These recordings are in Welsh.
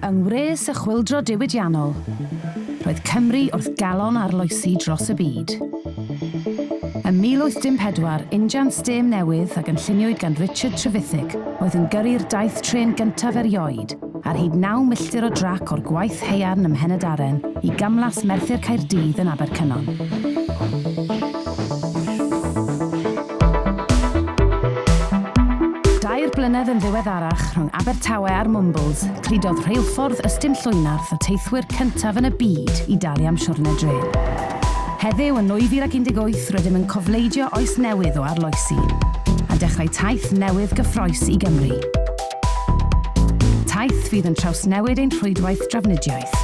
Yng ngwres y chwyldro diwydiannol, roedd Cymru wrth galon arloesi dros y byd. Ym 1814, injan stêm newydd a gynlluniwyd gan Richard Trevithick oedd yn gyrru'r daith trên gyntaf erioed, ar hyd naw milltir o drac o'r gwaith haearn ym Mhenydaren i gamlas Merthyr Caerdydd yn Abercynon. Dair blynedd yn ddiweddarach, rhwng Abertawe a'r Mwmbwls, cludodd rheilffordd ystum Llwynarth y teithwyr cyntaf yn y byd i dalu am siwrne drên. Heddiw, yn 2018, rydym yn cofleidio oes newydd o arloesi, a dechrau taith newydd gyffrous i Gymru. Taith fydd yn trawsnewid ein rhwydwaith drafnidiaeth.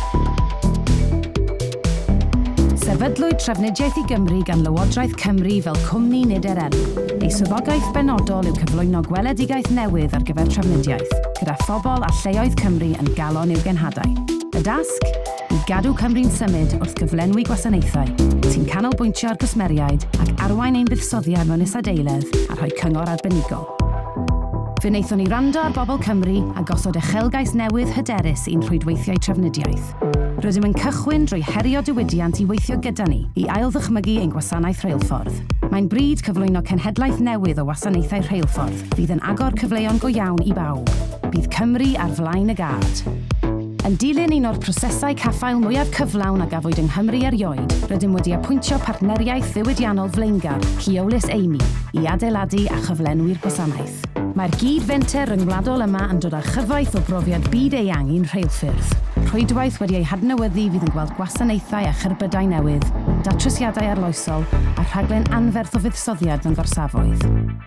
Sefydlwyd Trafnidiaeth i Gymru gan Lywodraeth Cymru fel cwmni nid er enw. Ei swyddogaeth benodol yw cyflwyno gweledigaeth newydd ar gyfer trafnidiaeth, gyda phobl a lleoedd Cymru yn galon i'w genhadau. Y dasg? I gadw Cymru'n symud wrth gyflenwi gwasanaethau sy'n canolbwyntio ar gwsmeriaid ac arwain ein buddsoddiad mewn isadeiledd a rhoi cyngor arbenigol. Fe wnaethon ni wrando ar bobl Cymru a gosod uchelgais newydd hyderus i'n rhwydweithiau trafnidiaeth. Rydym yn cychwyn drwy herio diwydiant i weithio gyda ni i ailddychmygu ein gwasanaeth reilffordd. Mae'n bryd cyflwyno cenhedlaeth newydd o wasanaethau rheilffordd fydd yn agor cyfleon go iawn i bawb. Bydd Cymru ar flaen y gad. Yn dilyn un o'r prosesau caffael mwyaf cyflawn a gafwyd yng Nghymru erioed, rydym wedi apwyntio partneriaeth ddiwydiannol flaengar, Keolis Amy, i adeiladu a chyflenwi'r gwasanaeth. Mae'r gyd-fenter ryngwladol yma yn dod â chyfoeth o brofiad byd-eang i'n rheilffyrdd. Rhwydwaith wedi ei hadnewyddu fydd yn gweld gwasanaethau a cherbydau newydd, datrysiadau arloesol a rhaglen anferth o fuddsoddiad mewn gorsafoedd.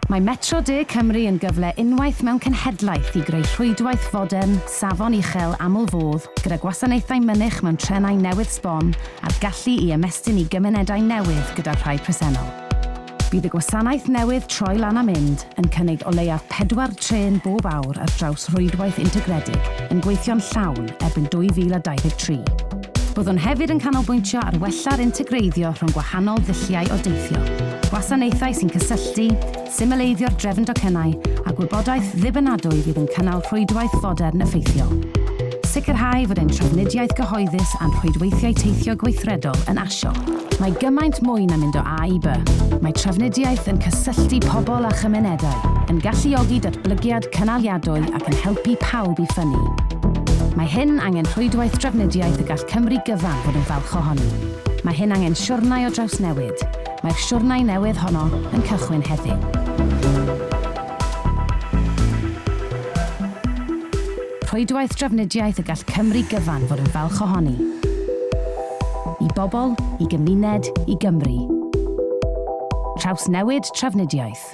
Mae Metro De Cymru yn gyfle unwaith mewn cenhedlaeth i greu rhwydwaith fodern, safon uchel aml fodd gyda gwasanaethau mynych mewn trenau newydd sbon a'r gallu i ymestyn i gymunedau newydd gyda'r rhai presennol. Bydd y gwasanaeth newydd troi lan a mynd yn cynnig o leiaf pedwar trên bob awr ar draws rhwydwaith integredig yn gweithio'n llawn erbyn 2023. Byddwn hefyd yn canolbwyntio ar wella'r integreiddio rhwng gwahanol ddulliau o deithio, gwasanaethau sy'n cysylltu, Symleiddio'r drefn docynnau a gwybodaeth ddibynadwy fydd yn cynnal rhwydwaith fodern effeithiol. Sicrhau fod ein trafnidiaeth gyhoeddus a'n rhwydweithiau teithio gweithredol yn asio. Mae gymaint mwy na mynd o A i B. Mae trafnidiaeth yn cysylltu pobl a chymunedau, yn galluogi datblygiad cynaliadwy ac yn helpu pawb i ffynnu. Mae hyn angen rhwydwaith drafnidiaeth y gall Cymru gyfan fod yn falch ohoni. Mae hyn angen siwrnai o drawsnewid. Mae'r siwrnai newydd honno yn cychwyn heddiw. Rhwydwaith drafnidiaeth y gall Cymru gyfan fod yn falch ohoni. I bobl, i gymuned, i Gymru. Trawsnewid trafnidiaeth.